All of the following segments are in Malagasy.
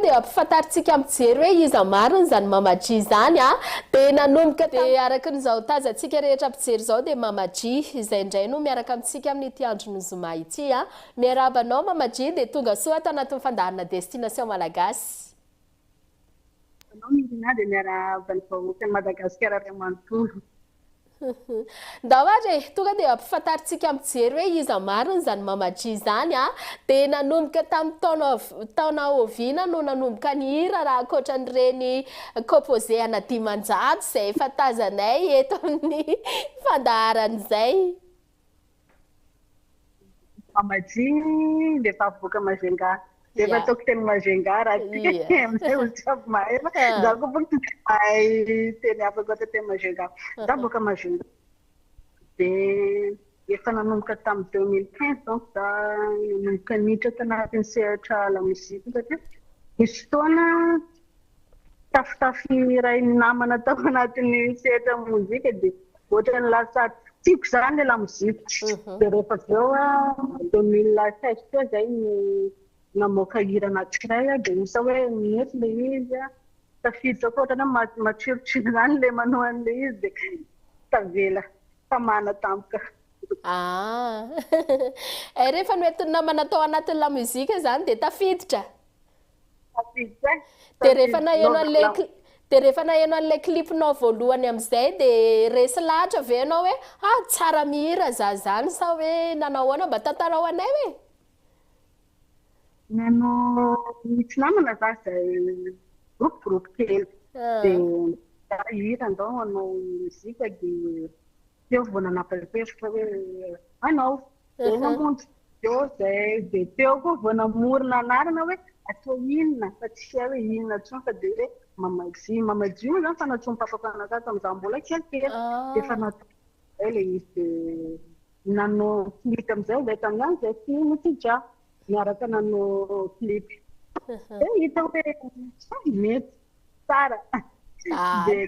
dia hampifantarintsika mijery hoe iza marina izany Mama G izany a! Dia nanomboka tamin'izay. Dia araka ny izao tazantsika rehetra mpijery izao dia Mama G izay indray no miaraka amintsika amin'ity andron'ny zoma ity a! Miarahaba anao Mama G dia tonga soa ato anatin'ny fandaharana Destination Malagasy. Miarahaba anao Niryna dia miarahaba ny vahoakan'i Madagasikara ray manontolo. Ndao ary e, tonga dia ampifantarintsika mijery hoe iza marina izany Mama G izany a! Dia nanomboka tamin'ny taona taona oviana no nanomboka nihira raha ankoatra an'ireny composé ana dimanjato izay efa tazanay eto amin'ny fandaharana izay? Mamaji dia efa avoaka Majunga. Dia efa ataoko teny Majunga raha tsy amin'izay olona jiaby mahay fa izaho koa boko tsy dia mahay teny hafa ankoatra teny Majunga. Izaho avoaka Majunga. Dia efa nanomboka tamin'ny deux mille quinze donc izaho nanomboka niditra tanatin'ny sehatra lamozika satria nisy fotoana tafotafon' ny rainy namana tao anatin' ny sehatra ny mozika dia ohatran' ny lasa tiako izany ilay lamozika dia rehefa avy eo deux mille seize teo izay no namoaka hira anankiray aho dia misy hoe nety ilay izy an tafiditra koa ohatran' ny hoe ma- matsilotsilo izany ilay manao an' ilay izy dia tavela tamana tampoka. Ah eh rehefa noentin' ny namana tao anatin' ny lamozika izany dia tafiditra. Dia rehefa naheno an'ilay cli- dia rehefa naheno an'ilay clip-nao voalohany amin'izay dia resy lahatra ve ianao hoe ha tsara mihira za zany sa hoe nanao ahoana mba tantarao anay hoe? Nano misy namana za izay groupe groupe kely Ah. dia za hira ndao hanao mozika dia teo vao nanapa-kevitra hoe hanao Zay namonjy Diô zay dia teo koa vao namorona anarana hoe atao inona fa tsy hay hoe inona intsony fa dia hoe Mama Jio. Mama Jio moa zany efa nantsoin'i Papa Mpanantena tamin'izaho mbola kelikely dia efa natao izay ilay izy dia nanao clip amin'izay izahay tamin'ny andro izay sy Notija niaraka nanao clip. Dia hita hoe sa mety tsara dia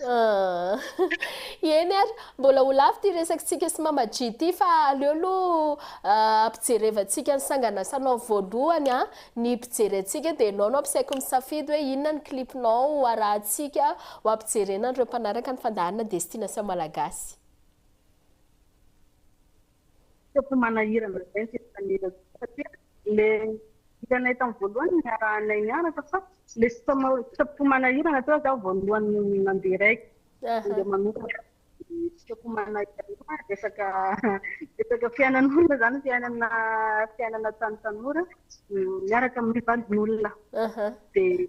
Ahh. Eny ary, mbola ho lava ity resakitsika sy Mama Jy ity fa aleo aloha ampijerevantsika ny sanganasanao voalohany an! Ny mpijery antsika dia ianao no ampisaiko misafidy hoe inona ny clipnao ho arahantsika ho ampijerena an'ireo mpanaraka ny fandaharana Destination Malagasy. Sao tsy manahirana izay ny fifaneraserana satria le hitanay tamin'ny voalohany no niarahanay niaraka fa le sitrapoko manahirana teo zaho voalohany nandeha raiky nandeha manokana sitrapoko manahirana resaka resaka fiainan'olona zany fiainana fiainana tany tanora miaraka amin'ny validin'olona dia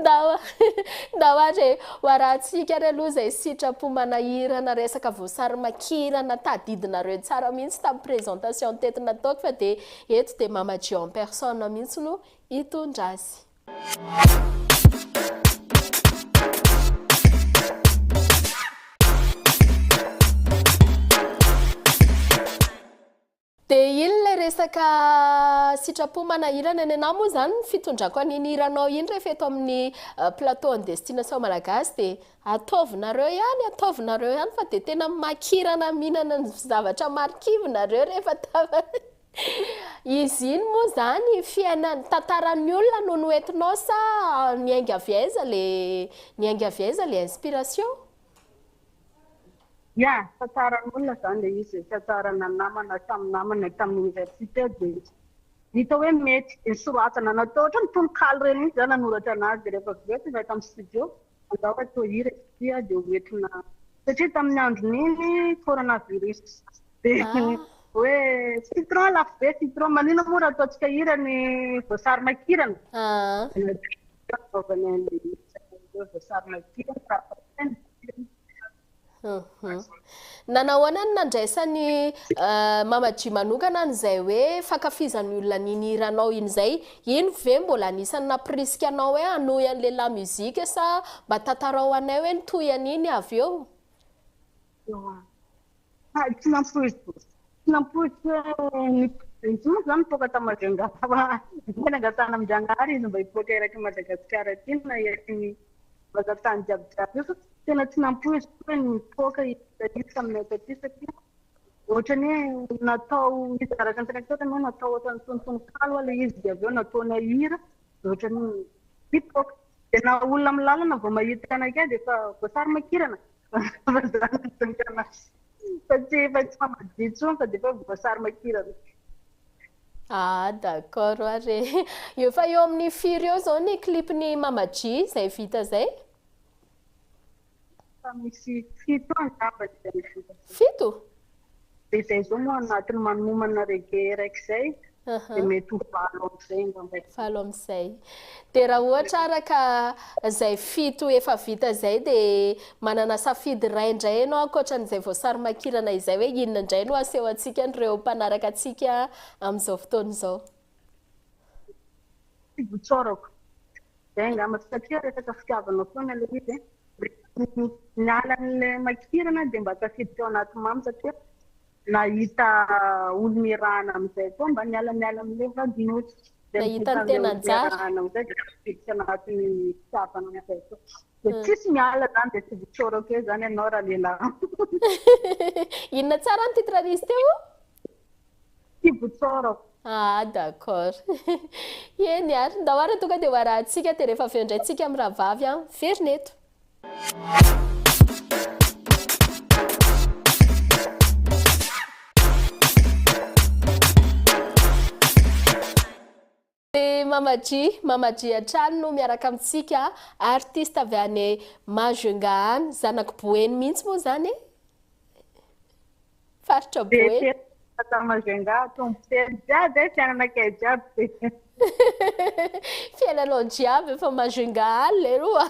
Ndao ndao ary e, hoarahantsika ary aloha izay sitrapo manahirana resaka voasary makirana tadidinareo tsara mihitsy tamin'ny présentation teto nataoko fa dia eto dia Mama Gio en personne mihitsy no hitondra azy. De inn lay resaka sitrapo manahirana ny anah moa zany ny fitondrako an'iny hiranao iny rehefa eto amin'ny plateau an'ny destination malagasy de ataovinareo ihany ataovinareo ihany fa de tena makirana mihinana ny zavatra marikivy nareo rehefa tafa izy iny moa zany fiainan tantaran'ny olona no noentinao sa niainga avy aiza le niainga avy aiza le inspiration? Ya, tantsaran'olona izany ilay izy e, tantsarana namana tamin'ny namana tamin'ny oniversite dia hita hoe mety dia soratana na toa ohatran'ny tononkalo ireny mihitsy izaho nanoratra an'azy dia rehefa avy eo tonga ato amin'ny studio angamba fa toa hira izy ity dia ho entina satria tamin'ny andron'iny coronavirus dia ah. hoe citron lafo be citron maninona moa raha ataontsika hira ny voasary makirana ah. Fanaovana an'ilay resaka ireo izay sary makirana raha fantany Nanao ahoana ny nandraisan'i euh, Mama G manokana an'izay hoe fankafizan'ny olona an'iny hiranao iny izay? Iny ve mbola anisan'ny nampirisika anao hoe hanohy an'le lamusique sa mba tantarao anay hoe ny tohiny iny avy eo? Tsy nampoiziko, tsy nampoiziko hoe nipoitra intsony izany nipoaka tao Majunga fa izay nangatahana amin-dRanahary izy mba hipoaka eraky an'i Madagasikara aty na eraky ny vazan-tany jiaby jiaby io fa tena tsy nampoiziko hoe nipoaka isika io taminay taty satria ohatran'ny hoe natao izy araka ny teneniko teo hoe natao ohatran'ny tononkalo ilay izy dia avy eo nataonay hira dia ohatran'ny hoe nipoaka. Dia na olona amin'ny lalana vao mahita anakay dia efa voasary makirana fa zany no tokana azy. Fa tsy fa tsy mamadika intsony fa dia efa hoe voasary makirana. Ah d'accord ary e! Eo efa eo amin'ny firy eo zao ny clip-n'i Mama G zay vita zay? Efa misy fito angamba izay mivoaka izay. Fito? Dia izay izao no anatiny manomana reggae araiky izay, dia mety ho valo amin'izay angamba izay. Valo amin'izay. Dia raha ohatra araka izay fito efa vita izay dia manana safidy iray indray ianao ankoatra an'izay voasary makirana izay hoe inona indray no aseho antsika an'ireo mpanaraka antsika amin'izao fotoana izao? Tsy votsorako. Izay angamba, satria resaka fitiavana foana ilay izy e. Rehefa miala an'ilay makirana dia mba tafiditra ao anaty mamy satria nahita olona iarahana amin'izay koa mba niala niala amin'ilay vadin'osy. Dia Nahita ny mivoaka amin'ilay tenanjara. olona iarahana amin'izay dia tafiditra anatin'ny fitiavana amin'izay koa. Dia tsisy miala izany dia tsy votsorako eo izany ianao raha lehilahy. Inona tsara ny titre-n'isy teo? Kibo tsara. Ah d'accord. Eny ary, ndao ary tonga dia ho arahintsika dia rehefa avy eo indray tsika mirahavavy an! Miverina eto. Ry Mama G, Mama G hatrany no miaraka amintsika, artiste avy any Majunga any, zanak'i Boeny mihitsy moa izany e! Faritra Boeny. Tata Majunga, Tompotelo, jiaby e, fiainanakay jiaby. Fiainanao jiaby efa Majunga any leroa.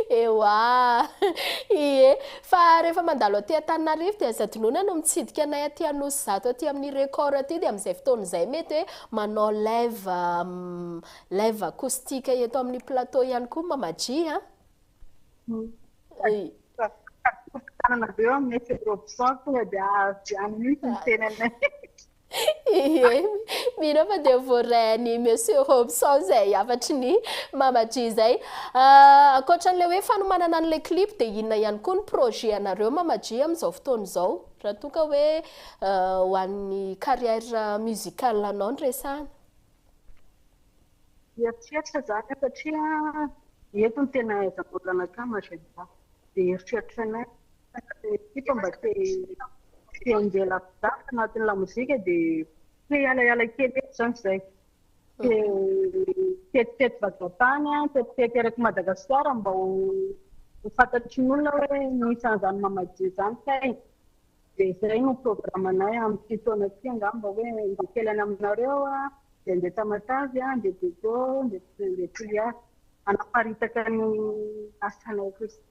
Ewa! Ie, Fa rehefa mandalo aty Antananarivo dia Zadinona no mitsidika anay aty Anosizato aty amin'ny Record aty dia amin'izay fotoana izay mety hoe manao live live acoustique eto amin'ny plateau ihany koa Mama-G a! Tadidio mpitsananareo aminay Fedrobson tonga dia avy any mihitsy ny tenanay. Iiiey, mino aho fa dia voaray an'i Monsieur Robson izay hafatry ny Mama G izay. Ah, ankoatra an'ilay hoe fanomanana an'ilay clip dia inona ihany koa ny projet anareo Mama G amin'izao fotoana izao? Raha toa ka hoe ho an'ny carrière musicale anao no resahana. Mieritreritra za ka satria eto no tena ahaizam-bola anakama, j'aime pas. Dia eritreritro anay. Ekipa mba te te handeha lavitra anatin'ny lamozika dia te hialaiala kely eto izany izay. Te tetitety vazan-tany, tetitety eraky Madagasikara mba ho ho fantatry ny olona hoe misy an'izany Mamadio izany kay. Dia izay no programanay amin'ity taona ity angamba hoe handeha kely any aminareo, dia handeha Tamatave, handeha Diego, handeha handeha Toliara hanaparitaka ny asanay kosa.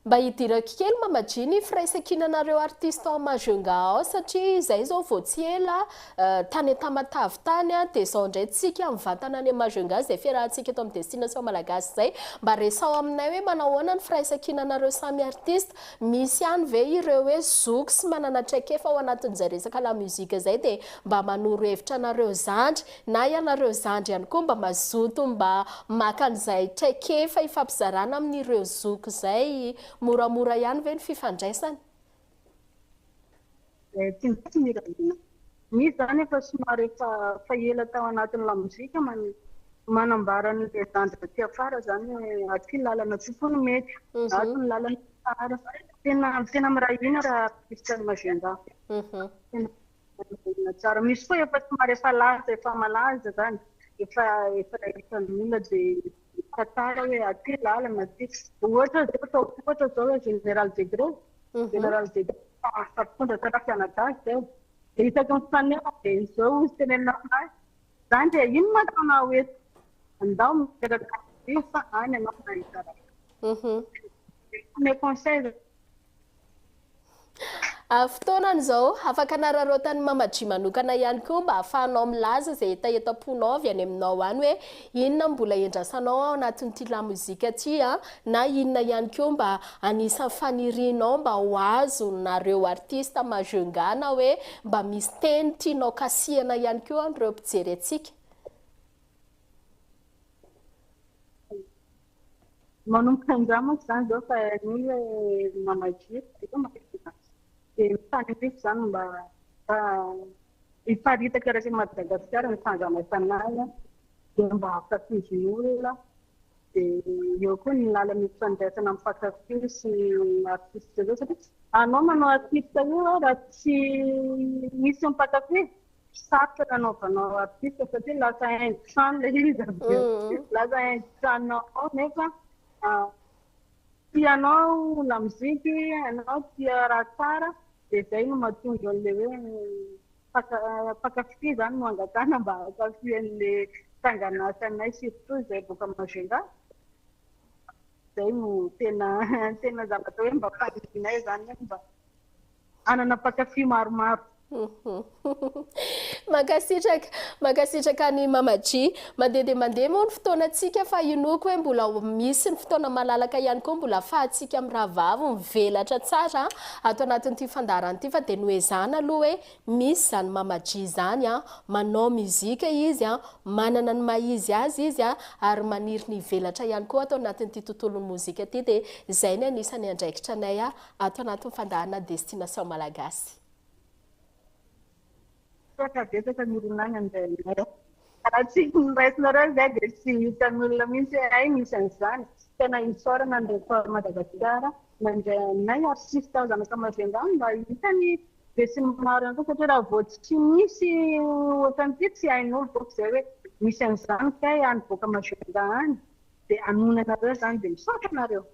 Mba hidirako kely Mama G ny firaisankinanareo artiste ao Majunga ao satria izay izao vao tsy ela euh, tany Tamatave tany an, dia izao indray tsika mivantana any Majunga izay fiarahantsika eto amin'ny Destination Malagasy izay, mba resaho aminay hoe manao ahoana ny firaisankinanareo samy artiste, misy ihany ve ireo hoe zoky sy manana traikefa ao anatin'izay resaka lamusique izay dia mba manoro hevitra anareo zandry Na ianareo zandry ihany koa mba mazoto mba maka an'izay traikefa ifampizarana amin'ireo zoky izay, moramora ihany ve ny fifandraisana? Eh, tsy mety ny Rajouna misy zany efa somary efa efa ela tao anatin'ny lamozika man manambara ny zandry aty afara zany hoe aty ny lalana aty koa no mety ato ny lalana tsara tena tena miray hina raha Christian Majunga tena Manodidina tsara. Misy koa efa somary efa lasa, efa malaza izany, efa efa hitan'ny olona dia mitantara hoe aty lalana aty. Ohatra izao atao ohatra izao hoe Général Degré, Général Degré efa efa mpitondra tena mpianadahy izao. Dia isaky ny fitenenana dia izao hoy ny tenenina aminahy, izany dia inona no atao hoe andao miezaka miasa any ianao mba hitsarana. Dia ny conseil Amin'ny fotoanany izao, afaka anararaotan'i Mama Dry manokana ihany koa mba hahafahanao milaza izay hetaheta am-ponao avy any aminao any hoe inona no mbola iandrasanao ao anatin'ity lamozika ity na inona ihany koa mba anisan'ny fanirianao mba ho azonareo artista Majunga na hoe mba misy teny tianao kasihana ihany koa an'ireo mpijery antsika. Manomboka indray manko izany izao fa iny hoe mamalia dia matetika dia mifaniriako izany mba hiparitaka erak'i Madagasikara ny fandrama fanahy dia mba hankatozin'olona dia eo koa ny lalana ifandraisana amin'ny mpankafy sy ny artista ireo satria anao manao artista io raha tsy misy mpankafy sarotra ny anaovanao artiste satria lasa indisant le izy avy eo mm. lasa indisant nao nefa ah, tianao la mozika ianao tia raha tsara dia zay no mahatonga an'le hoe mpakafy zany no angatana mba hakafy an'le sanganasanay surtout izay boka magenda zay no tena tena zavatra hoe mba faninay zany hoe mba hanana mpankafy maromaro. Mankasitraka, mankasitraka an'i Mama G. Mandeha dia mandeha moa ny fotoanantsika fa inoako hoe mbola ho misy ny fotoana malalaka ihany koa mbola ahafahantsika mirahavavy mivelatra tsara ato anatin'ity fandaharana ity fa dia noezahana aloha hoe misy izany Mama G izany, manao muzika izy, manana ny maha izy azy izy ary maniry ny hivelatra ihany koa ato anatin'ity tontolon'ny mozika ity dia izay ny anisan'ny andraikitranay Ato anatin'ny fandaharana Destination Malagasy. Misaotra betsaka Mironagna Ndrainay. Raha tsy noraisinareo izay dia tsy hitan'olona mihitsy hoe hay misy an'izany. Tena isaorana ny Record Madagasikara nandray anay ary tsy hisy tahoza mankany Majunga any mba hahita ny besinimaro ihany koa satria raha vao tsy misy ohatran'ity tsy hain'olo bôka izay hoe misy an'izany kay any bôka Majunga any. dia hanoina anareo izany dia misaotra anareo.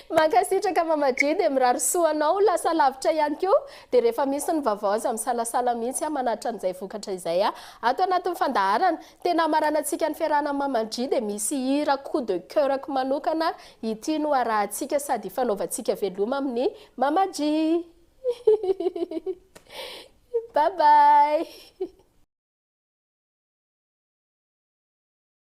Mankasitraka Mama Dry dia mirary soa anao ho lasa lavitra ihany koa dia rehefa misy ny vaovao aza misalasala mihitsy aho manatitra an'izay vokatra izay aho ato anatin'ny fandaharana tena hamaranantsika ny fiarahana amin'i Mama Dry dia misy hira coup de coeur-ko manokana ity no harahantsika sady hifanaovantsika veloma amin'i Mama Dry bye bye